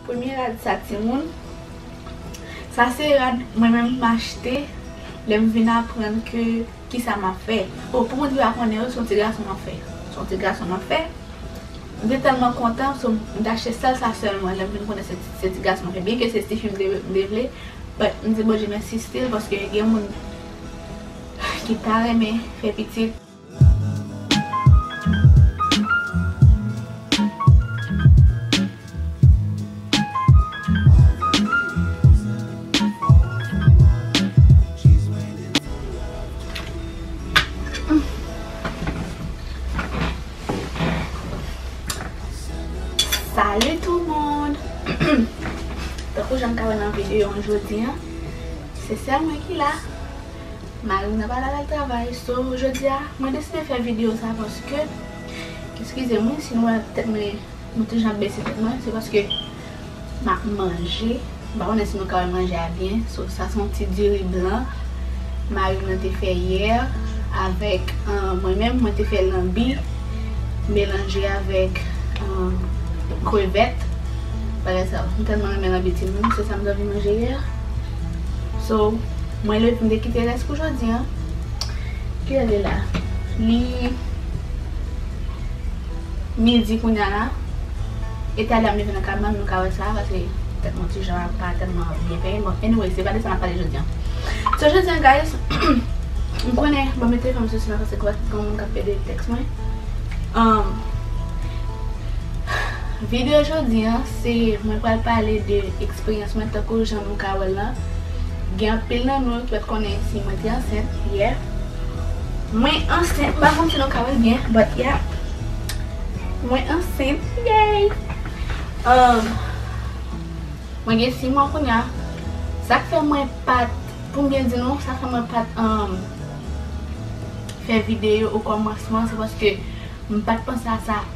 Premye rad sa timoun, sa se rad mwen menm m achte lè m vin aprann ke kisa m ap fè. O pou moun ki pa konnen yo se yon ti gason m ap fè. Se yon ti gason m ap fè. M te tèlman kontan so m te achte sèl sa sèlman lè m vin konnen se ti gason m ap fè. Byenke se tifi m te vle but m di Bondye mèsi stil paske gen moun ki ta renmen fè pitit. Salut tout moun Tankou janm ta wè nan video an jodi an se sèl mwen ki la. Marim nan pa la lal travay so jodia mwen deside fè video sa paske eskizem wi si nou wè tèt mwen mwen toujou ap bese tèt mwen se paske map manje m pa konnen si nou ka wè manje a byen so sa son ti diri blan marim nan te fè yè avèk mwen menm mwen te fè lanbi melanje avèk krevèt bagay sa yo m tèlman renmen lanbi timoun se sam t anvi manje yè. So mwen le pou m te kite rès pou jodi an. Kilè li la? Li midi kounya la. E talè a m leve nan kabann nou ka wè sa paske tèt mwen ti jan pa tèlman byen penyen. Bon anyway se pa de sa n ap pale jodi an. So jodi an guys m konnen m ap mete telefòn mwen sou silanse paske gen moun k ap gade tèks mwen. Videyo jodi an. Se mwen pral pale de eksperyans mwen tankou jan nou ka wèl lan gen anpil nan nou ki pat konnen si mwen te ansent yè mwen ansent mpa konn si nou ka wèl byen but ya mwen ansent yeyy umm mwen gen 6 mwa kounya sak fè mwen pat poum byen di nou sak fè mwen pat umm fè video o kòmansman se paske mpat panse a sa.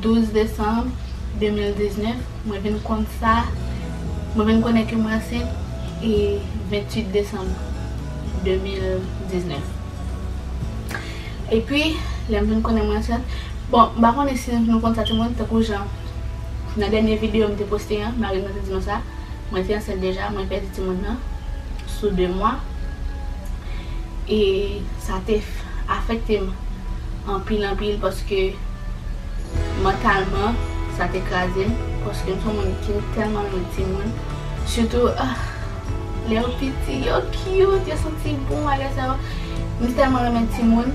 12 desanm 2019 mwen vin konn sa mwen vin konnen ke mwen ansent e 28 desanm 2019 epi lèm vin konnen mwen ansent bon m pa konnen si nou konn sa ti moun tankou jan nan dènye video m te poste an mari mwen te di mwen sa mwen te ansent deja mwen pèdi ti moun nan sou 2 mwa e sa te afekte m. Anpil anpil paske mantalman sa te kraze m paske m son moun ki tèlman renmen timoun sitou ahh lè yo piti yo cute yo santi bon bagay sa yo m tèlman renmen timoun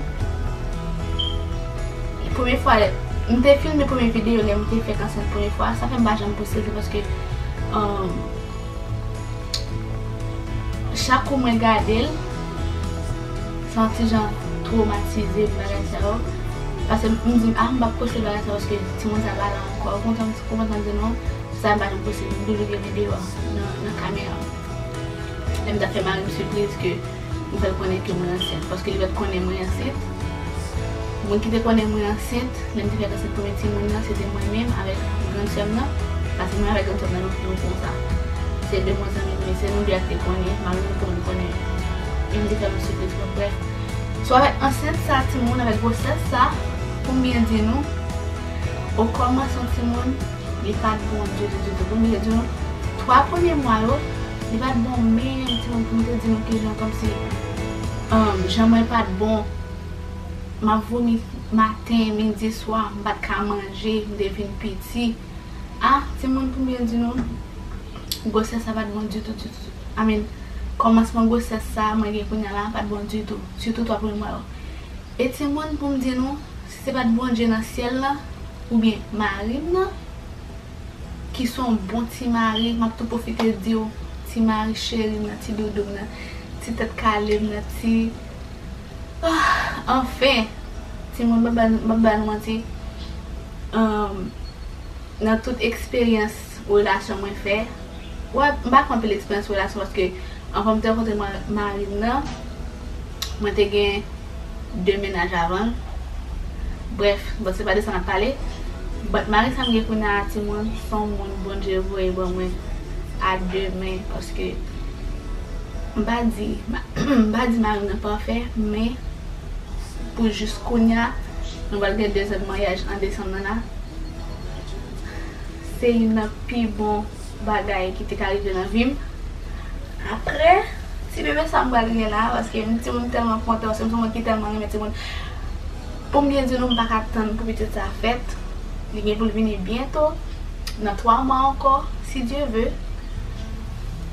premye fwa m te filme premye video lè m te fèk ansent premye fwa sa fè m pa janm poste l se paske ahh chak kou mwen gade l. Se yon ti jan tromatize bagay sa yo. Pase m di m ah m pap poste bagay sa yo paske timoun sa pa la ankò. Kontan m konprann sa m di non sa pa janm posib. M toujou gen li deyò nan kamera. Lè m t ap fè mari m sipriz ke m fè l konnen ke mwen ansent. Paske li pa t konnen mwen ansent. Moun ki te konnen mwen ansent. Lè m te fèk ansent premye timoun nan, se te mwen menm avèk grann sè m nan, paske mwen avèk grann sè m nan nou nou konsa. Se de bon zanmi m ye, se nou de a ki te konnen, mari m te konn konnen e m te fè yon sipriz twò prè. So avèk ansent sa a timoun, avèk gwosès sa a, pou m byen di nou, o kòmansman timoun, li pa t bon ditou ditou. Pou m byen di nou, twa premye mwa yo, li pa t bon menm timoun pou m te di nou kijan kòmsi jan mwen pa t bon. Map vomi maten, midi, swa, m pat ka manje, m te vin piti. Ah timoun pou m byen di nou, gwosès la pat bon ditou ditou, I mean kòmansman gwosès sa mwen gen kounya la pat bon ditou, sitou 3 premye mwa yo. E timoun pou m di nou, si se pat Bondye nan syèl la oubyen mari m nan ki son bon ti mari, map tou pwofite di w ti mari cheri m nan, ti doudou m nan, ti tèt kale m nan, ti. Ahh anfen! Timoun m pap ba nou manti humm nan tout eksperyans relasyon mwen fè, wè m pa fè anpil eksperyans relasyon paske anvan m te rankontre mari m nan mwen te gen 2 mennaj avan l brèf bon se pa de sa n ap pale but mari sa m gen kounye a timoun s on moun Bondye voye ban mwen a 2 men paske M pa di, m pa di mari m nan pafè, men pou jis kounya, nou pral gen 2 zan de maryaj an desanm nan la, se youn nan pi bon bagay ki te ka rive nan vi m. Aprè, ti bebe sa m pral gen la, paske m ti moun m tèlman kontan, paske m se yon moun ki tèlman renmen ti moun, pou m byen di nou m pa ka tann pou pitit sa fèt, li gen pou l vini byento, nan 3 mwa ankò, si Dye ve.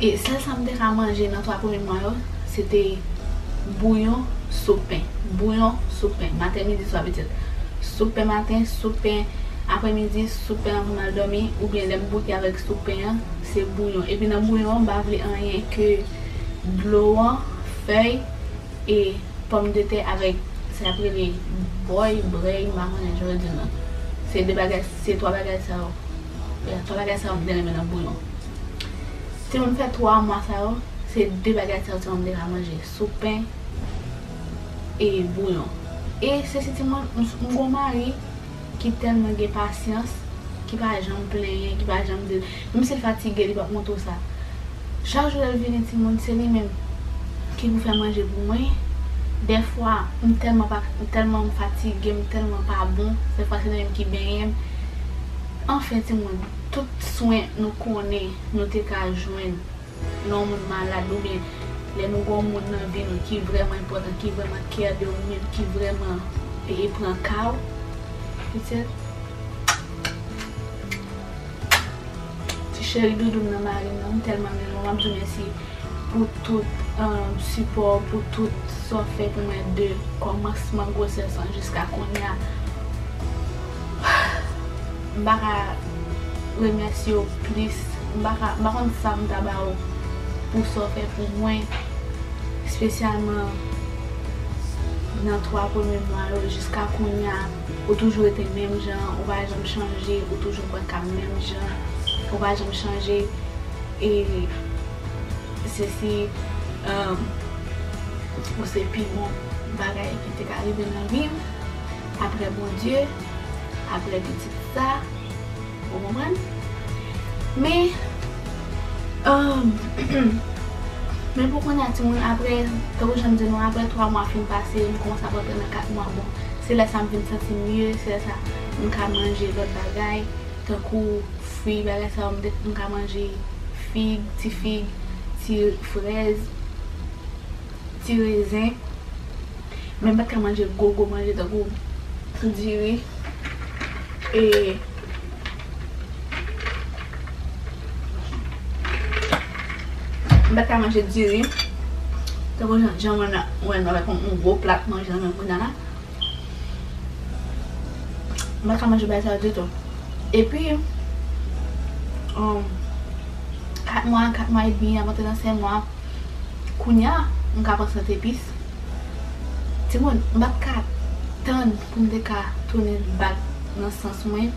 E sèl sa m te ka manje nan 3 premye mwa yo, se te bouyon, soup pen. Bouyon, soup pen. Maten, midi, swa, petèt soup pen maten, soup pen aprè midi, soup pen anvan m al dòmi oubyen lè m bouke avèk soup pen an, se bouyon. Epi nan bouyon an m pa vle anyen ke dlo an, fèy e pòmdetè avèk sa y ap rele bòy, brèy, m pa konnen jan yo di l nan. Se 2 bagay, se 3 bagay sa yo. Bon pa bagay sa yo m byen renmen nan bouyon. Ti moun fè 3 mwa sa yo se 2 bagay sa yo ti moun te ka manje sou pen e bouyon. E se si ti moun m gon mari ki tèlman gen pasyans ki pa janm plenyen ki pa janm di l menm si l fatige li pap montre w sa. Chak jou lèl vini timoun se li menm ki pou fè manje pou mwen dèfwa m tèlman pa m tèlman m fatige m tèlman pa bon dèfwa se li menm ki benyen m anfen timoun tout swen nou konnen nou te ka jwenn lè yon moun malad oubyen lè nou gen yon moun nan vi nou ki vrèman enpòtan ki vrèman care de ou menm ki vrèman pran ka ou petèt. Ti cheri doudou m nan mari m nan m tèlman renmen w map diw mèsi pou tout sipò w pou tout sa w fè pou mwen de kòmansman gwosès lan jiska kounya m pa ka remèsye w plis m pa ka m pa konn sa m ta ba w pou sa w fè pou mwen spesyalman nan 3 premye mwa yo jiska kounya. Ou toujou rete menm jan, ou pa janm chanje, ou toujou bwè kab menm jan, ou pa janm chanje, e sesi, humm, ou se pi bon bagay ki te ka rive nan vi m, aprè Bondye, aprè pitit sa. Ou konprann? Men, men pou kounya timoun aprè, tankou jan m di nou an, aprè 3 mwa fin pase, m kòmanse ap rantre nan 4 mwa, bon, se lè sa m vin santi m mye, se lè sa m ka manje lòt bagay, tankou fwi, bagay sa yo, m ka manje fig, ti fig, ti frèz, ti rezen. Men m pat ka manje gwo gwo manje tankou ti diri e m pat ka manje diri tankou jan mwen nan mwen nan avèk yon gwo plat manje nan menm kounya la m pat ka manje bagay sa yo ditou epi kat mwa kat mwa edmi avan 3 ansèm mwa Kounya m ka pran sant epis. Timoun m pat ka tann pou m te ka tounen bak nan sans mwen.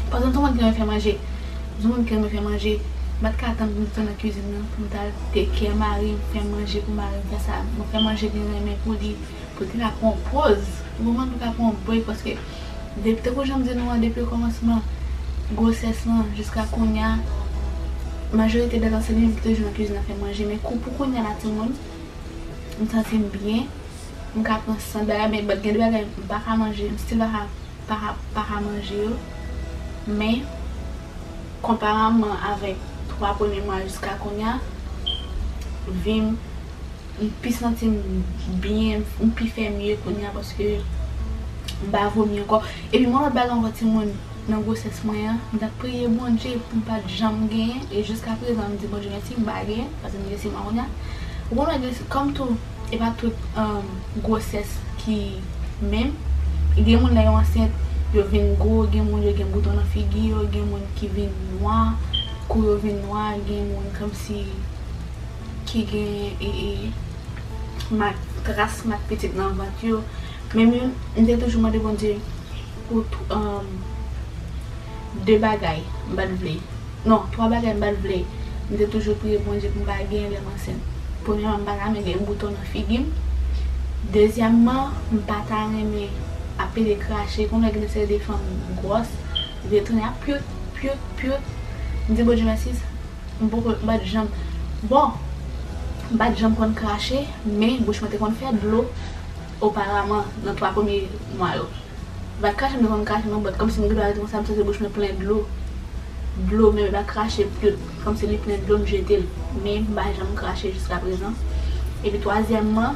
Paske m se yon moun ki renmen fè manje. M se yon moun ki renmen fè manje. M pat ka tann pou m te nan kizin nan pou m ta al take care mari m, fè manje pou mari m, fè sa, fè manje li renmen pou li, pou l te ka pran yon pòz. Ou konprann? Pou l ka pran yon break paske. Depi tankou janm di nou an depi okòmansman gwosès lan jiska kounya majorite dèt ansent li li toujou nan kizin ap fè manje men kou pou kounya la timoun m santim byen m ka pran sant bagay men gen de bagay m paka manje m still paka paka paka manje yo men konparamman avèk 3 premye mwa jiska kounya vim M pi santi m byen, m pi fè mye kounye a paske m pa vomi ankò. Epi mwen lòt bagay ankò timoun, nan gwosès mwen an, m t ap priye Bondye pou m pa t janm genyen e jiskaprezan m di Bondye mèsi m pa genyen paske m gen siman kounye a. Ou konprann gen kòm tou e pa tout gwosès ki menm. Gen moun lè yo ansent yo vin gwo, gen moun yo gen bouton nan figi yo, gen moun ki vin nwa, kou yo vin nwa, gen moun kòmsi. ki gen mak tras mak pitit nan vant yo men m te toujou mande Bondye pou 2 bagay m pat vle non 3 bagay m pat vle m te toujou priye Bondye pou m pa genyen lèm ansent premyèman m pa ta renmen gen bouton nan figi m dezyèmman m pa ta renmen ap pede krache konn wè gen de seri de fanm gwòs vye tounen ap piot piot piot m di Bondye mèsi M poko, m pat janm, bon, m pat janm konn krache, men bouch mwen te konn fè dlo oparaman nan 3 premye mwa yo. M pat krache m te konn krache non but kòmsi m gen dwa rete konsa m santi bouch mwen plen dlo, dlo men m pa krache pul kòmsi li plen dlo m jetel, men m pa janm krache jiskaprezan. Epi twazyèmman.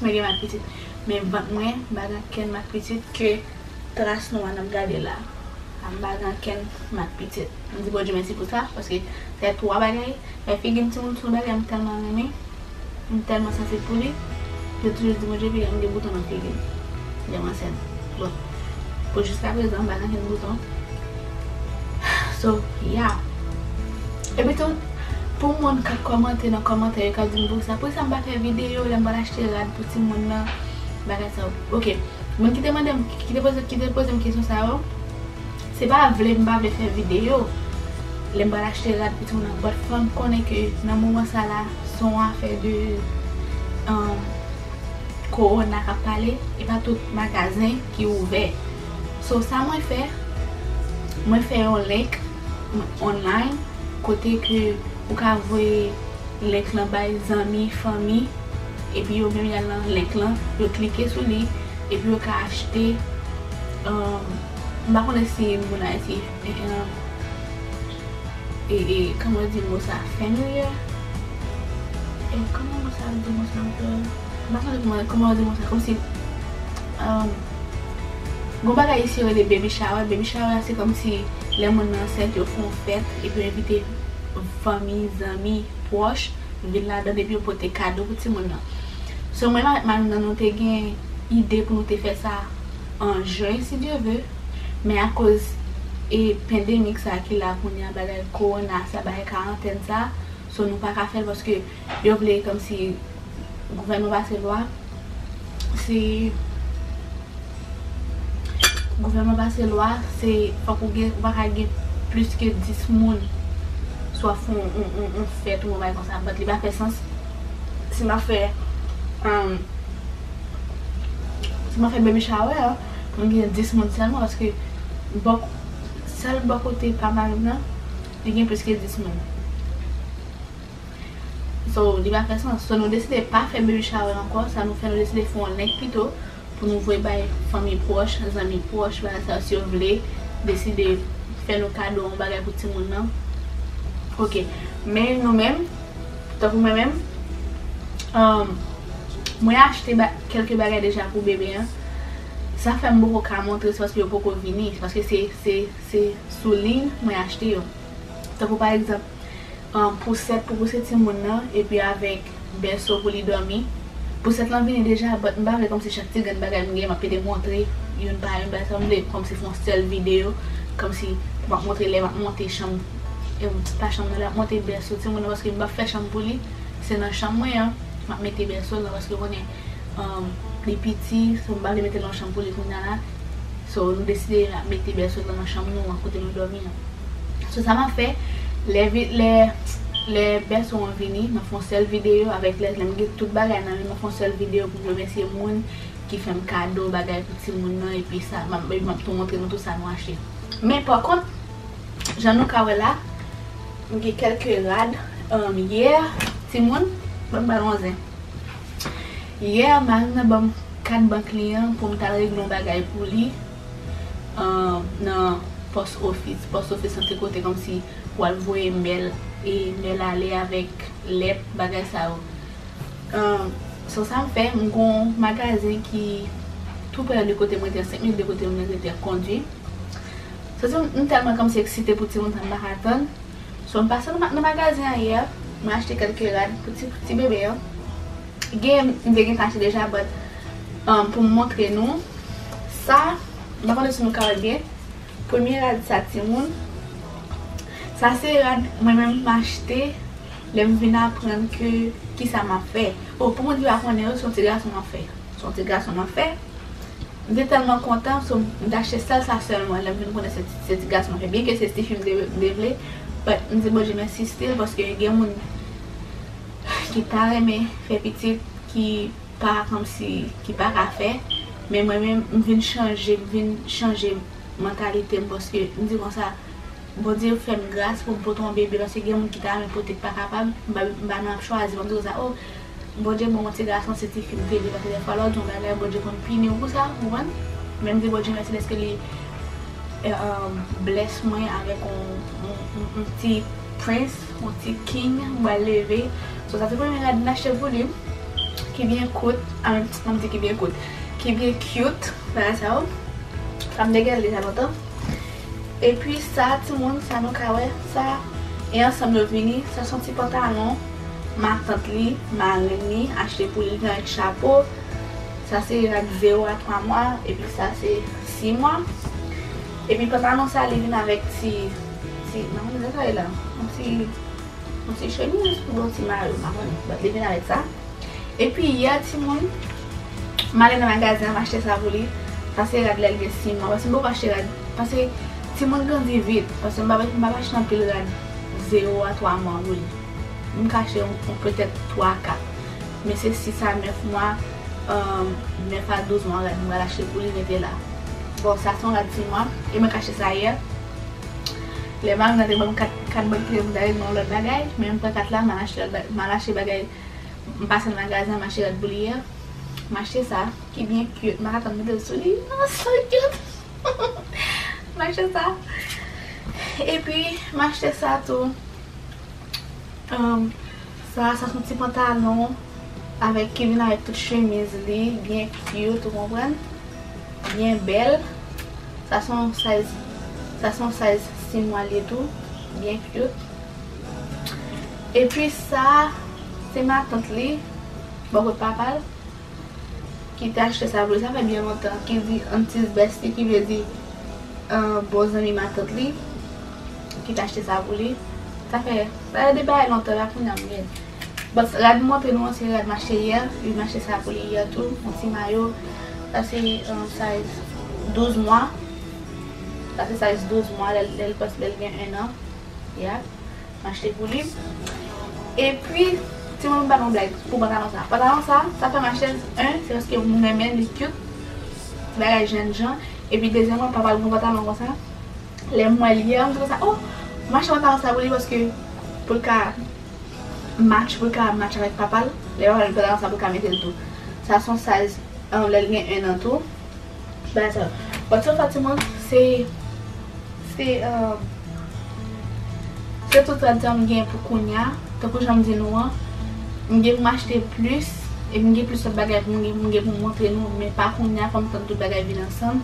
Mwen gen mak pitit. Men vant mwen pa gen okenn mak pitit ke tras nwa nap gade la a m pa gen okenn mak pitit. M di Bondye mèsi pou sa paske fè 3 bagay, fè figi m timoun son bagay m tèlman renmen, m tèlman sansib pou li. Mwen toujou di Bondye piga m gen bouton nan figi m lè m ansent. Bon pou jiska prezan m pa gen okenn bouton. So yeah. Epitou. Pou moun ka kòmante nan kòmantè yo ka dim pou kisa pou kisa m pa fè video lèm pral achte rad pou timoun nan bagay sa yo ok moun ki te mandem ki te poze ki te pozem kesyon sa yo se pa vle m pa vle fè video lèm pral achte rad pou timoun nan but fòm konnen ke nan moman sa la son afè de ahh korona kap pale e pa tout magazen ki ouvè so sa mwen fè mwen fè yon link. online kote ke ou ka voye link lan bay zanmi, fanmi epi yo menm yal nan link lan yo klike sou li epi yo ka achte m pa konnen si moun ayiti kòman yo di mo sa familiar kòman yo di mo sa ankò m pa konnen kòman yo di mo sa kòmsi. Gon bagay isi yo rele baby shower, baby shower a se kòmsi lè moun nan ansent yo fon fèt epi yo envite fanmi, zanmi, pwòch vin ladann epi yo pote kado pou timoun nan. So mwen avèk marim nan nou te gen ide pou nou te fè sa an juin si Dieu veut men akoz e pandemic sa ki la kounya bagay korona sa bagay karantèn sa so nou paka fèl paske Yo vle komsi gouvènman pase lwa se gouvènman pase lwa se fòk ou gen ou pa ka gen plis ke 10 moun si wap fè yon fèt yon bagay konsa but li pa fè sans si map fè si map fè baby shower pou m gen 10 moun sèlman paske bò sèl bò kote pa marim nan li gen plis ke 10 moun. So li pa fè sans. So nou deside pa fè baby shower ankò, sa nou fè nou deside fè yon link pito pou nou voye bay fanmi pwòch, zanmi pwòch, bagay sa yo si yo vle deside fè nou kado yon bagay pou timoun nan. Ok. Men nou menm, tankou mwen menm, mwen achte kèlke bagay deja pou bebe an. Sa fè m poko ka montre se paske yo poko vini, se paske se sou liy mwen achte yo. Tankou pa egzanp. pousèt pou pouse timoun nan epi avèk bèso pou li dòmi, pousèt lan vini deja but m pa vle kòmsi chak ti grenn bagay m gen m ap mete montre youn pa youn bagay sa m vle kòmsi fè yon sèl videyo kòmsi pou m ap montre lè m ap monte chanm pa chanm nan lè m ap monte bèso timoun nan paske m p ap fè chanm pou li se nan chanm mwen an m ap mete bèso l nan paske w konnen. li piti so m pa vle metel nan chanm pou li kounya la so nou deside mete bèsol lan nan chanm nou an kote nou dòmi an so sa map fè lè bèso an vini map fè yon sèl video avèk lèt lèm gen tout bagay nan menm map fè yon sèl video pou m remèsye moun ki fèm kado bagay pou timoun nan epi sa epi map tou montre nou tout sa nou achte men pa kont jan nou ka wè la m gen kèlke rad yè timoun banm ba nou yon zen. Yè a mari m nan ban m kat bank li an pou m t al regle yon bagay pou li nan pòs ofis. Pòs ofis lan se kote kòmsi w al voye mèl e mèl ale avèk lèt bagay sa yo. Sò sa m fè, m gen yon magazen ki tou prè de kote mwen te an, 5 minit de kote mwen te an kondwi. Sò sa m tèlman kòmsi eksite pou ti moun sa m pa ka tann. So m pase nan magazen an yè, mwen achte kelke rad pou ti ti bebe yo. Gen m te gentan achte deja but pou m montre nou sa, m pa konnen si nou ka wè l byen. Premye rad sa timoun, sa se rad mwen menm m achte lè m vin aprann ke kisa m ap fè. Bon pou moun ki pa konnen yo se yon ti gason m ap fè. Se yon ti gason m ap fè. M te tèlman kontan so m t achte sèl sa sèlman lè m vin konnen se ti gason m te byenke se tifi m te vle but m di Bondye mèsi still paske gen moun ki ta renmen fè pitit ki pa kòmsi ki pa ka fè men mwen menm m vin chanje m vin chanje mantalite m paske m di konsa Bondye fè m gras pou m pote yon bebe paske gen moun ki ta renmen pote ki pa kapab m pa nan ap chwazi m ap di konsa oh Bondye bon ou ti gason si ti fi m te vivan se te fwa lòt yon bagay bondye konn pini ou pou sa ou konprann men m di bondye mèsi dèske li bless mwen avèk yon ti prince yon ti king m pral leve so sa se premye rad m achte pou li ki byen kout anm di ki byen kout ki byen cute bagay sa yo sa m te gen l deja lontan. Epi sa timoun sa nou ka wè sa e ansanm yo vini sa son ti pantalon matant li marenn li achte pou li nan ek chapo sa se ak 0 a 3 mwa epi sa se 6 mwa epi pantalon sa li vin avèk ti ti m pa konn kisa sa rele la yon ti yon ti chemiz oubyen yon ti mayo m pa konnen bat li vin avèk sa. Epi yè timoun M ale nan magazen an m achte sa pou li Pase rad lèl gen siman Pase m poko achte rad Pase timoun grandi vit Pase m pa m pap achte anpil rad 0 a 3 mwa pou li M ka achte yon petèt 3 a 4 Men se 6 a 9 mwa 9 a 12 mwa rad m pral achte pou li mete la Bon sa son rad siman E mwen k achte sa yè Lè mari m nan te banm 4 bann kle m ta vin banm lòt bagay Men m pran 4 la m al achte bagay M pase nan magazen m achte rad pou li yè M achte sa ki byen cute m paka tann mete l sou li oh so cute M achte sa Epi m achte sa tou Sa sa son ti pantalon avèk ki vin avèk tout chemiz li byen cute ou konprann byen bèl Sa son size Sa son size 6 mwa li tou byen cute. Epi sa a se matant li, bò kot papa l, ki te achte sa pou li, sa fè byen lontan, ki di antis besti ki vle di bon zanmi matant li ki te achte sa pou li. Sa fè, sa se de bagay lontan la kounya m gen. But rad m montre nou an se rad m achte yè, li m achte sa pou li yè tou, yon ti mayo. Sa se size 12 mwa, sa se size 12 mwa lè l gen 1 an. Yap achte pou li. Epi ti moun pa nan blag pou pantalon sa. Pantalon sa sa fèm achèl 1 se paske m renmen li cute ti bagay jèn jan epi dezyèman papa l gen yon pantalon konsa lèm wèl yè m di konsa oh m achte pantalon sa pou li paske pou l ka match pou l ka match avèk papa l lè papa l met pantalon sa pou l ka metel tou sa son size lèl gen 1 an tou. Baton. Baton Fatima se se um se tout sa tan m gen pou kounya tankou jan m di nou an m gen pou m achte plis e m gen plis lòt bagay pou m gen pou m montre nou men pa kounya fò m tann tout bagay vin ansanm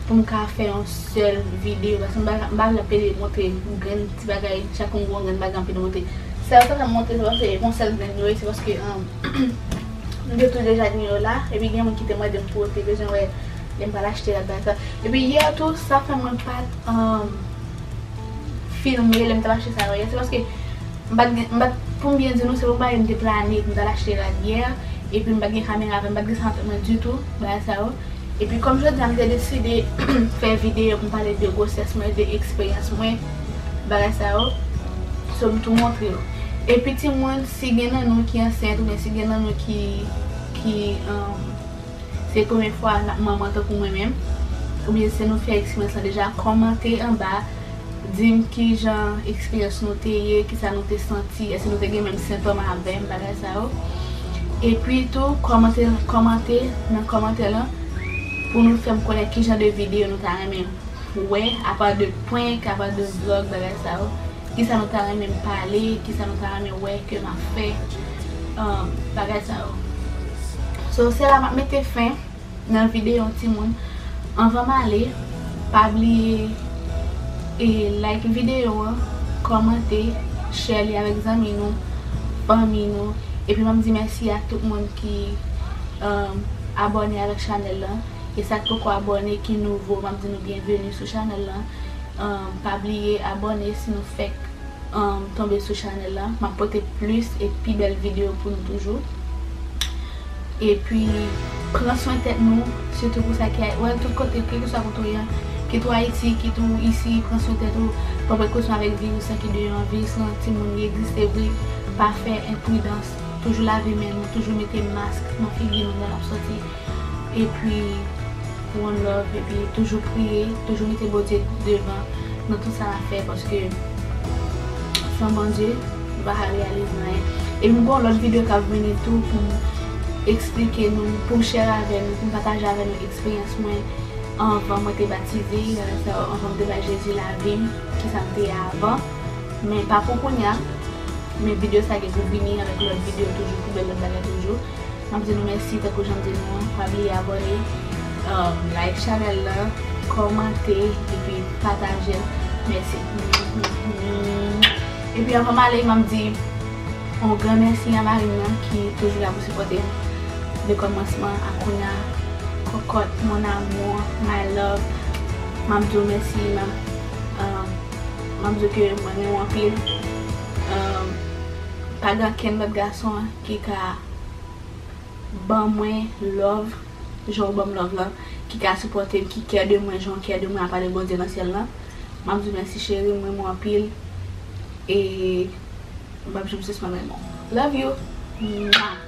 pou m ka fè yon sèl videyo paske m pa m pa vle ap pede montre grenn ti bagay chak moun gen yon grenn bagay anpi nou montre sa yo ta fè m montre se paske yon sèl grenn yo ye se paske um. M te tounen jaden yo la, epi gen moun ki te mande m pou yo te bezwen wè lè m pral achte rad bay sa. Epi yè tou, sa fè mwen pa t filme lè m t ap achte sa yo yè, se paske m pa t gen, m pa t, pou m byen di nou, se pa yon bagay m te plane pou m t al achte rad yè, epi m pa t gen kamera avè m, m pa t gen sa nan tèt mwen ditou, bagay sa yo. Epi kòm jodi a m te deside fè videyo pou m pale de gwosès mwen, de eksperyans mwen. Bagay sa yo, so m tou montre yo. Epi timoun, si gen nan nou ki ansent oubyen si gen nan nou ki se premye fwa n ap manman tankou mwen menm, oubyen si nou fè eksperyans lan deja, kòmante anba, di m ki jan eksperyans nou te ye, ki sa nou te santi, èske nou te gen menm sentòm avè m, bagay sa yo. Epi tou, kòmante nan kòmantè lan pou nou fè m konnen ki jan de videyo nou ta renmen m Pou wè, apa de prank, apa de vlog, bagay sa yo, kisa nou ta renmen m pale, kisa nou ta renmen wè ke m ap fè, bagay sa yo. So, se la m ap mete fen nan videyo an timoun. Anvan m ale, pa bliye e like videyo an, kòmante, share li avèk zanmi nou, fanmi nou, epi m ap di mèsi a tout moun ki abòne avèk chanèl lan. E sak poko abòne ki nouvo map di nou byenveni sou chanèl lan pa bliye abòne si nou fèk tonbe sou chanèl la map pote plis e pi bèl video pou nou toujou epi pran swen tèt nou sitou pou sa ki wè tout kote kelkeswa kote ou ye kit ou ayiti kit ou isi pran swen tèt ou pa prekosyon avèk viris lan ki deyò an viris lan ti moun li egziste vre pa fè enpridans toujou lave men nou toujou mete mask nan figi nou lè nap sòti. Epi one love epi toujou priye toujou mete Bondye devan nan tout sa nap fè paske san Bondye nou pa ka reyalize anyen epi m gen yon lòt video kap vini tou poum eksplike nou poum share avè nou poum pataje avè nou eksperyans mwen anvan mwen te batize bagay sa yo anvan m te bay Jezi lavim kisa m te ye avan men pa pou kounya men video sa gen pou vini avèk lòt video toujou pou bèl lòt bagay toujou. Map di nou mèsi tankou janm di nou an pa bliye abòne like chanèl lan kòmante epi patajel mèsi epi anvan male map di yon gran mèsi a marim nan ki toujou la pou sipòtem de kòmansman a kounya kòkòt mon amour my love map diw mèsi map diw ke mwen renmenw anpil pa gen ankenn lòt gason. ki ka ban mwen love jan ou ban m love lan ki ka sipòte m ki kè de mwen jan w kè de mwen apa de Bondye nan syèl lan m ap di w mèsi cheri m renmen w anpil e m pap janm sispann renmen w love you mwah.